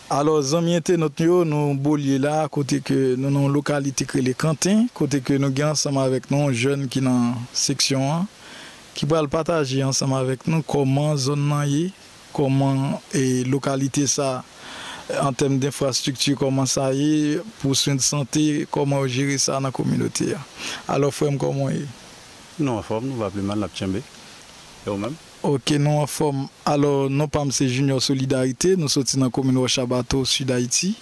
Alò zanmi entenot nou yo nou bolye la kote ke nou nan yon lokalite k rele kanten kote ke nou gen ansanm avèk nou yon jèn ki nan seksyon an ki pral pataje ansanm avèk nou kòman zòn nan ye kòman lokalite sa an tèm denfrastrikti kòman sa ye pou swen de sante kòman yo jere sa nan kominote a alò frèm kòman w ye? Nou anfòm nou va plimal nap tchenbe e ou menm? Ok nou anfòm alò non pam se junior solidarite nou soti nan komin wòcha bato sud haiti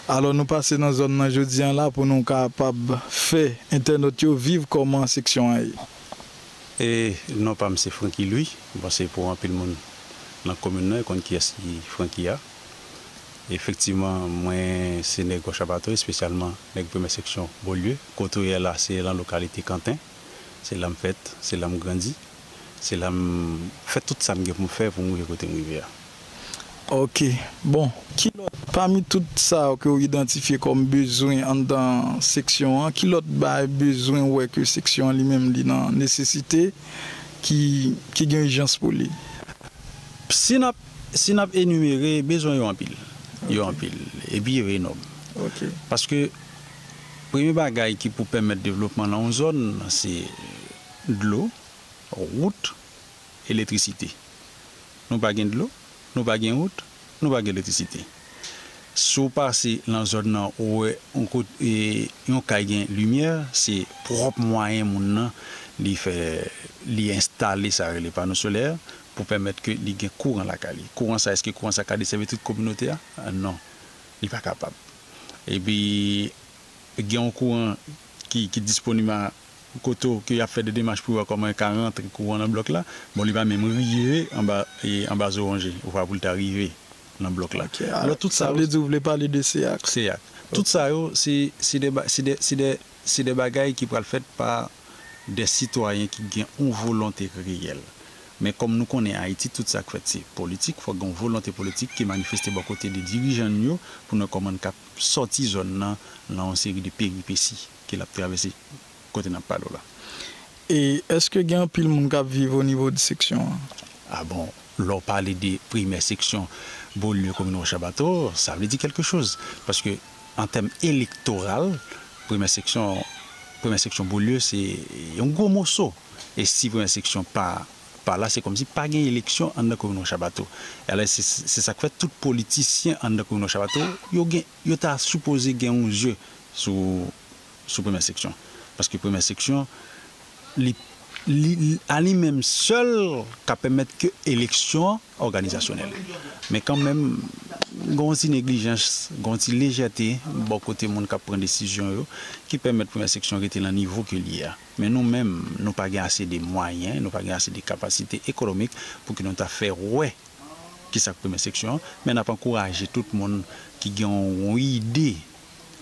alò nou pase nan zòn nan jodi an la pou nou kapab fè entènot yo viv kòman seksyon an ye. Et non pam se franky louis m panse pou anpil moun nan komin nan yo konn kiyès ki franky a efektivman mwen se nèg wòcha bato espesyalman nèg premyè seksyon bolieu kote ou yè la se lan lokalite kanten se lam fèt se lam grandi Se la m fè tout sa m gen pou m fè pou m rive kote m rive a. Ok. Bon, ki lòt, pami tout sa yo ke ou idantifye kòm bezwen anndan seksyon an, ki lòt bay bezwen ou wè ke seksyon an li menm li nan nesesite, ki, ki gen ijans pou li? Si n ap, si n ap enimere, bezwen yo anpil. Yo anpil. Epi yo enòm. Ok. Paske premye bagay ki pou pèmèt devlopman nan yon zòn, se. dlo, wout, eletrisite. Nou pa gen dlo, nou pa gen wout, nou pa gen eletrisite. Si w pase lan zòn nan ou wè yon kot e yon kay gen limyè se pwòp mwayen moun nan li fè li enstale sa rele pano solè pou pèmèt ke li gen kouran lakay li. Kouran sa eske kouran sa ka desèvi tout kominote a? Non. Li pa kapab. Epi gen yon kouran ki ki disponib a kote w ke y ap fè de demach pou yo wè kòman yo ka rantre kouran nan blòk la, bon li pa menm rive anba anba zoronje vwa pou l ta rive nan blòk la. Ok a Alò tout sa sa yo vle di ou vle pale de CEAC. CEAC. Tout sa yo se se de ba se de se de se de bagay ki pral fèt pa de sitwayen ki gen yon volonte reyèl. Men kòm nou konnen Ayiti tout sa k fèt se politik, fòk gen yon volonte politik ki manifeste bò kote de dirijan n yo pou n wè kòman n kab sòti zòn nan lan yon seri de peripesi. ke lap travèse kote nap pale w la. E eske gen anpil moun kap viv o nivo de seksyon an? A bon, lè w pale de primè seksyon Beaulieu komin Rochard Bato, sa vle di kèlke choz. Paske an tèm elektoral, primè seksyon, primè seksyon Beaulieu se yon gwo moso. E si primè seksyon pa pa la se kòmsi pa gen eleksyon anndan komin Rochard Bato. E alè se sak fè tout politisyen anndan komin Rochard Bato yo gen Yo ta sipoze gen yon je sou sou premyè seksyon paske premyè seksyon li li a li menm sèl ka pèmèt ke eleksyon an òganizasyonèl men kan menm gen yon ti neglijans gen yon ti lejète bò kote moun kap pran desizyon yo ki pèmèt premyè seksyon rete lan nivo ke li ye a men nou menm nou pa gen ase de mwayen nou pa gen ase de kapasite ekonomik pou ke nou ta fè wè ki sa k premye seksyon an, men n ap ankouraje tout moun ki gen yon ide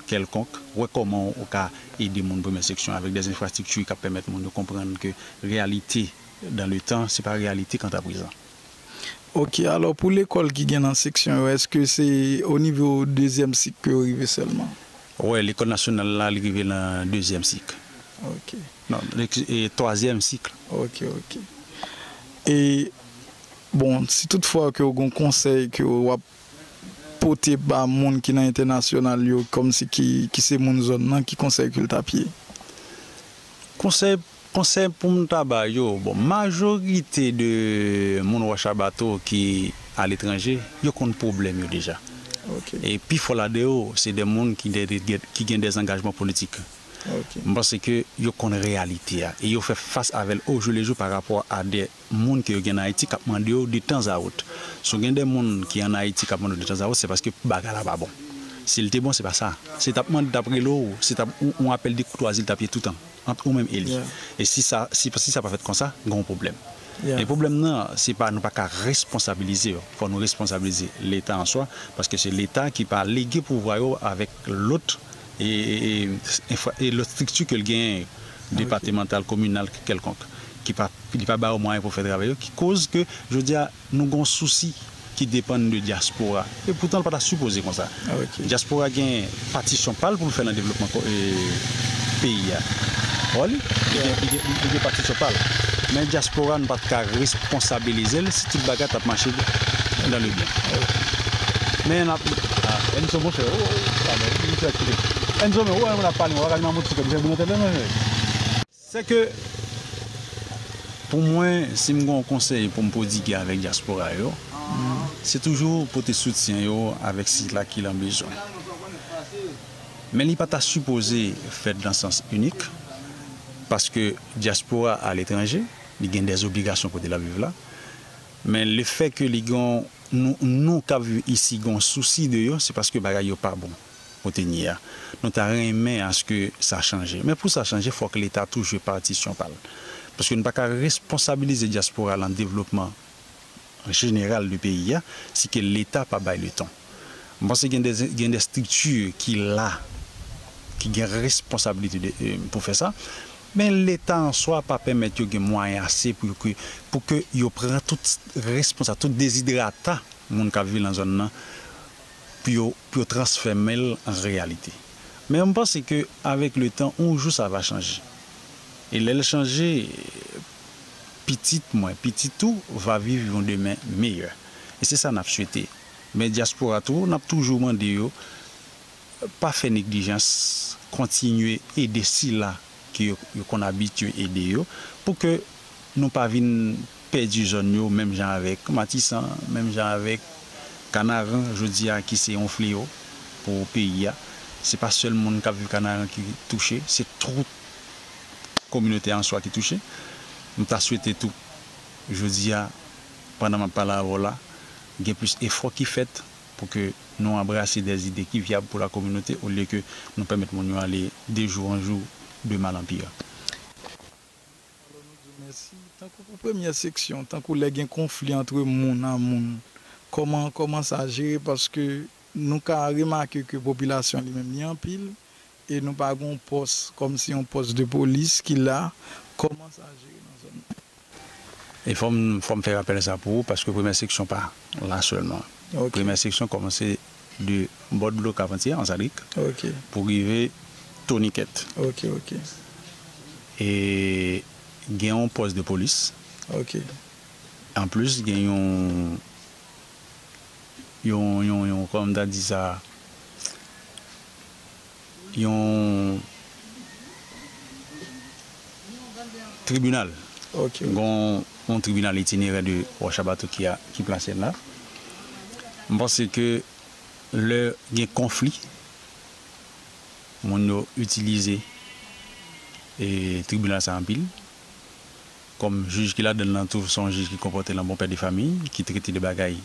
kèlkonk, wè kòman ou ka ede moun premye seksyon avèk dè enfrastrikti k ap pèmèt moun yo konprann ke reyalite dan le tan se pa reyalite kanta prezan. Ok, alò pou lekòl ki gen nan seksyon yo, èske se o nivo dezyèm sik ke yo rive sèlman? Wè, lekòl nasyonal la li rive nan dezyèm sik. Ok. Non, twazyèm sik. Ok, ok. E. Bon, si tout fwa ke ou gen yon konsèy ke ou ap pote ba moun ki nan entènasyonal yo kòm si ki ki se moun zòn nan, ki konsèy ke l t ap ye? Konsèy, konsèy pou m ta ba yo, bon, majorite de moun Wòch a Bato ki aletranje, yo konn pwoblèm yo deja. E pi fò ladan yo, se de moun ki de de gen, ki gen de zangajman politik. M panse ke yo konn reyalite a e yo fè fas avè l ojou le jou pa rapò a de. moun ke yo gen an Ayiti kap mande yo de tan a ot. Si w gen de moun ki an Ayiti kap mande w de tan a ot se paske bagay la pa bon. Si l te bon se pa sa. Si tap mande tap rele w, se tap yon apèl de koutwazi l tap ye toutan ant ou menm e li. E si sa si sa pa fèt konsa gen yon pwoblèm. E pwoblèm nan se pa nou pa ka responsabilize yo. Fò nou responsabilize leta an swa paske se leta ki pa lege pouvwa yo avèk. lòt e lòt strikti ke l genyen yo, depatemantal, kominal, kèlkonk, ki pa, li pa ba yo mwayen pou fè travay yo, ki koz ke jodi a nou gen yon sousi ki depann de dyaspora, e poutan l pa ta sipoze konsa. Dyaspora gen patisyon pa l pou l fè nan devlopman peyi a, wè, li gen patisyon pa l, men dyaspora nou pa t ka. konstabilize l si tout bagay t ap mache dan le byen. Men n ap. Enzo monchè ou pa bay li ti aktivite tou. Enzo men ou wè moun ap pale ou pa ka di manman ti kòb li fè boul nan tèt la non jèj. Se ke pou mwen si m gon konsèy pou m pwodigue avèk dyaspora yo se toujou pote soutyen yo avèk sila ki lan bezwen. Men li pa ta sipoze fèt lan sans inik paske dyaspora aletranje. Li gen dè obligasyon kote lap viv la. Men le fè ke li gen yon, nou kap viv isi gen yon sousi de yo, se paske bagay yo pa bon kote n ye a. Nou ta renmen aske sa chanje. Men pou sa chanje fòk leta tou jwe patisyon pa l. Paske nou pa ka responsabilize dyaspora lan devlopman. an jeneral de peyi a, se ke leta pa bay le tan. M panse gen de gen de strikti ki la, ki gen responsablite de pou fè sa, men leta an swa pa pèmèt yo gen mwayen ase pou yo ke pou ke yo pran tout responsa tout dezidrata moun k ap viv lan zòn nan pou yo pou yo transfème l an reyalite. Men m panse ke avèk le tan on jou sa va chanje e lè l chanje pitit mwen, pitit ou va viv yon demen meyè. E se sa nap swete. Men dyaspora tou nap toujou mande yo pa fè neglijans kontinye ede sila ke yo konn abitye ede yo pou ke nou pa vin pèdi zòn yo menm jan avèk Matisan, menm jan avèk Kanaran jodi a ki se yon fleyo pou peyi a. Se pa sèl moun kap viv Kanaran ki touche, se tout. kominote answa ki touche. M ta swete tou jodi a pandan m ap pale avè w la gen plis efò ki fèt pou ke nou anbrase dè zide ki vyab pou la kominote olye ke nou pèmèt moun yo ale de jou an jou, de mal an pire. Alò nou di w mèsi. Tankou pou premyè seksyon, tankou lè gen konfli antre moun a moun, kòman kòman sa jere paske nou ka remake ke popilasyon li menm li anpil E nou pa gon pòs kòm si yon pòs de polis ki la kòman sa jere nan zòn nan. E fòm fòm fè rapèl sa pou ou paske premyè seksyon pa la sèlman. Premyè seksyon kòmanse de bò dlo kavantyè anzarik pou rive tonikèt. E gen yon pòs de polis an plis gen yon yon yon yon kòman m ta di sa yon tribinal. Ok. Gon yon tribinal itinerè de Wòchabato ki a, ki plase la. M panse ke lè gen konfli, moun yo itilize e tribinal sa anpil. Kòm jij ki ladann nan tou son jij ki konpòte l an bon pè de famiy, ki trete de bagay.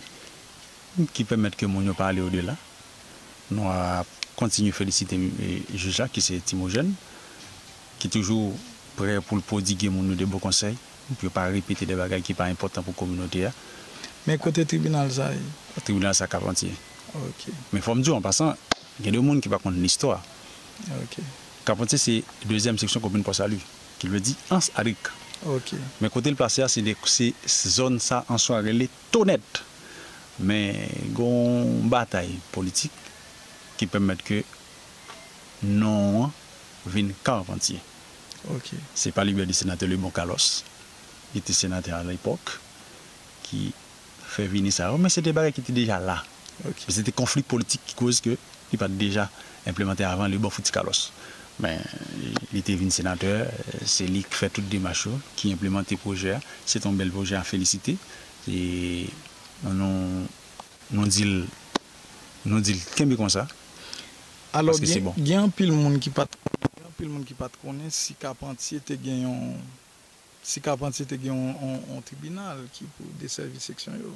ki pèmèt ke moun yo pa ale odela, nou ap kontinye felisite jij la ki se Timogèn, ki toujou prè pou l pwodigue moun yo de bon konsèy, pou yo pa repete de bagay ki pa enpòtan pou kominote a. Men kote tribinal sa ye? Tribinal sa Kap Antye. Ok. Men fò m di w an pasan, gen de moun ki pa konn listwa. Ok. Kap Antye se dezyèm seksyon komin Pò Sali, ki vle di Ans Adrik. Ok. Men kote l plase a se zòn sa an swa rele Tonèt! Men gen yon batay politik ki pèmèt ke non an vin Carpentier. Se pa libèdi Senatè Lebon Carlos ki te senatè alepòk ki fè vini sa yo, men se te bagay ki te deja la. Ke se te konfli politik ki koz ke li pat deja enplemante avan li bon fout ti Carlos. Men li te vin senatè, se li k fè tout demach yo, ki enplemante pwojè a. Se te yon bèl pwojè a felisite. E nou di l nou di l kenbe konsa paske se bon. Gen anpil moun ki pat konnen, gen anpil moun ki pat konnen si Carpentier te gen yon si Carpentier te gen yon tribinal ki pou desèvi seksyon yo.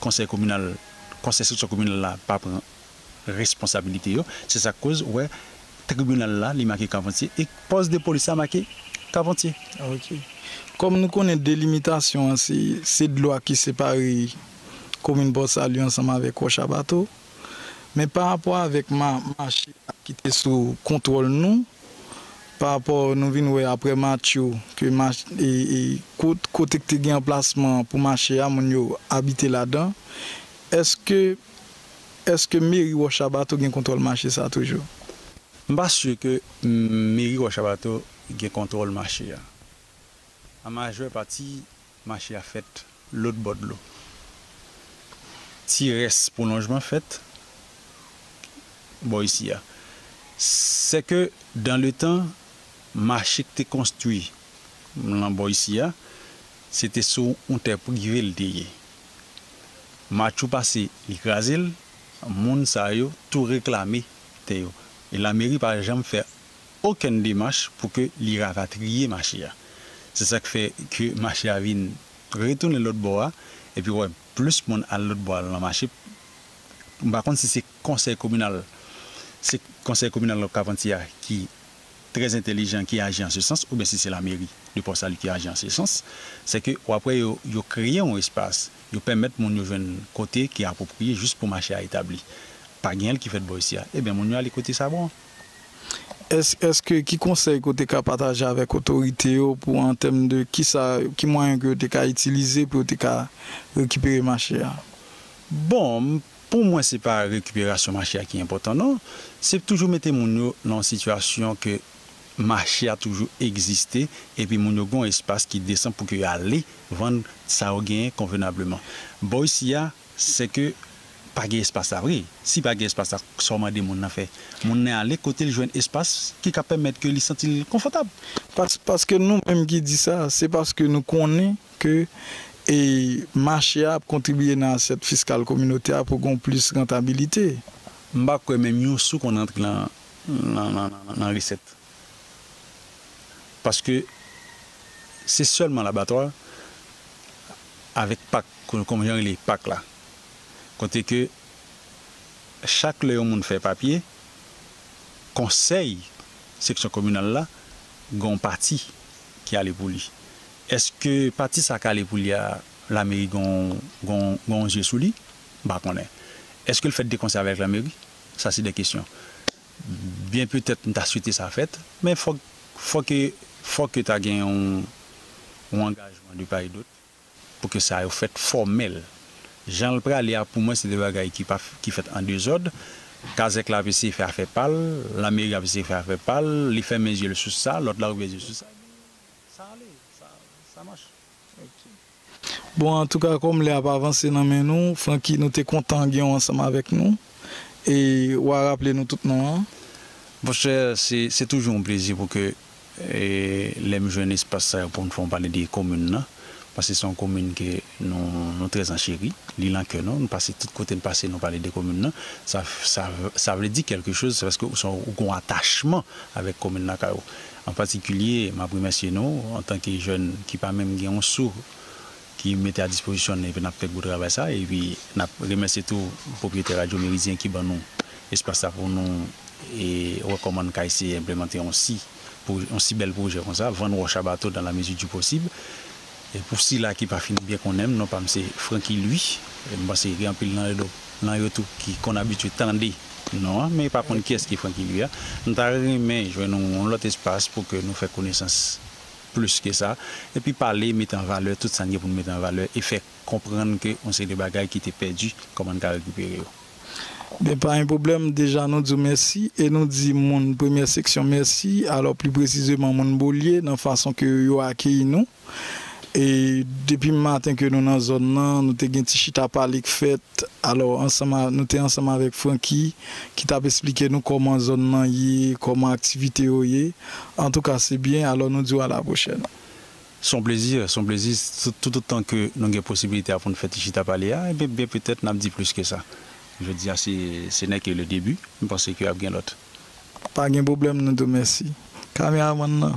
konsèy kominal, konsèy seksyon kominal la pa pran responsabilite yo, se sak koz ou wè tribinal la li make Carpentier e pòs de polis la make Carpentier. Ok. Kòm nou konnen delimitasyon an se se dlo a ki separe komin Pòsalye ansanm avèk Wòch a Bato. Men pa rapò avèk ma mache a ki te sou kontwòl nou, pa rapò nou vin wè aprè Matthew ke ma e e kot kote k te gen anplasman pou mache a moun yo abite ladan, èske èske meri Wòchabato gen kontwòl mache sa toujou? M pa si ke meri Wòchabato gen kontwòl mache a. An majè pati Mache a fèt lôt bô dlo. Ti rès pwolonjman fèt bô isi a. Sè ke dan le tan, mache k te konstwi lan bô isi a, se te sou oun tè prive l te ye. Matchou pase, li kraze l, moun sa yo tou reklame tè yo. E lameri pa janm fè okenn demach pou ke li rapatriye mache a. Se sak fè ke mache a vin retounen lòt bò a, epi wè plis moun al lòt bò al nan mache. M pa konn si se konsèy kominal, se konsèy kominal Lòk Kapanti a ki trè entelijan ki aji an se sans oubyen si se lameri de Pò Sali ki aji an se sans. Se ke w ap wè yo, yo kreye yon espas, yo pèmèt moun yo jwenn kote ki apwopriye jis pou mache a etabli. Pa genyen l ki fèt bò isi a. Ebyen moun yo ale kote sa bon. Èske ki konsèy ke w te ka pataje avèk otorite yo pou an tèm de kisa, ki mwayen ke yo te ka itilize pou yo te ka rekipere mache a? Bon, pou mwen se pa rekiperasyon mache a ki enpòtan non. Se toujou mete moun yo nan yon sitiyasyon ke mache a toujou egziste epi moun yo gen yon espas ki desan pou ke yo ale vann sa yo genyen konvenableman. Bò isi a, Se ke pa gen espas la vre. Si pa gen espas la, sa w mande moun nan fè? Moun nan ale kote l jwenn espas ki ka pèmèt ke li santi l konfòtab. Paske nou menm ki di sa, se paske nou konnen ke mache a ap kontribiye nan asyèt fiskal kominote a pou gen yon plis rantabilite. M pa kwè menm yon sou konn antre nan resèt. Paske se sèlman labatwa avèk pak, kòm jan rele pak la, kote ke chak lè yon moun fè papye, konsèy seksyon kominal la gen yon pati ki ale pou li. Eske pati sa k ale pou li a, lameri gen yon zye sou li? M pa konnen. Eske l fèt de konsè avèk lameri? Sa se de kesyon. Byen petèt m ta swete sa fèt, men fòk fòk ke fòk ke ta gen yon yon angajman de part et d'autre pou ke sa yo fèt fòmèl. Jan l prale a pou mwen se de bagay ki pa ki fèt an dezòd. Kazèk la ap eseye fè afè pa l, lanmeri ap eseye fè afè pa l, li fèmen zye l sou sa, lòt la ouvè zye l sou sa, epi sa ale, sa sa mach. Bon antouka kòm lè ap avanse nan men nou Francky nou te kontan gen w ansanm avèk nou e wa raple nou tout non an. Monchè se toujou yon plezi pou ke lè m jwenn espas sa yo pou m fè yon pale de komin nan paske se yon komin ke nou trè ancheri li lan kè nou nou pase tout kote n pase nou pale de komin nan sa sa vle di kèlke choz se paske ou gen yon atachman avèk komin lakay ou. An patikilye, m ap remèsye nou, antanke jèn ki pa menm gen yon sou ki mete a dispozisyon n epi n ap fè gwo travay sa a. Epi n ap remèsye tou pwopriyetè Radyo Meridyen ki ban nou espas sa pou nou wè kòman n ka eseye enplemante yon si yon si bèl pwojè konsa, vann wòch a bato dan la mezi di posib. Pou sila ki pa fin byen konnen m, non pa m se Francky Louis. M panse gen anpil nan yo tou ki konn abitye tande non an, men yo pa konn kiyès ki Francky Louis a. M ta renmen jwenn yon lòt espas pou ke nou fè konesans plis ke sa, epi pale, mete an valè tout sa n gen pou n mete an valè e fè konprann ke yon seri de bagay ki te pèdi, kòman n ka rekipere yo. Ben pa yon pwoblèm, deja nou di w mèsi e nou di moun premyè seksyon mèsi, alò pli presizeman moun Bolye nan fason ke yo akeyi nou. E depi maten ke nou nan zòn nan, nou te gen ti chita pale k fèt, alò ansanm a nou te ansanm avèk Francky ki t ap esplike nou kòman zòn nan ye, kòman aktivite yo ye. Antouka se byen, alò nou di w alapwochèn. Se yon plezi, se yon plezi toutotan ke nou gen posibilite a pou nou fè ti chita pale a, enben byen petèt nap di plis ke sa. Jodi a se se nè ke le debi, m panse ke ap gen lòt. Pa gen pwoblèm nou tou mèsi kameramann lan.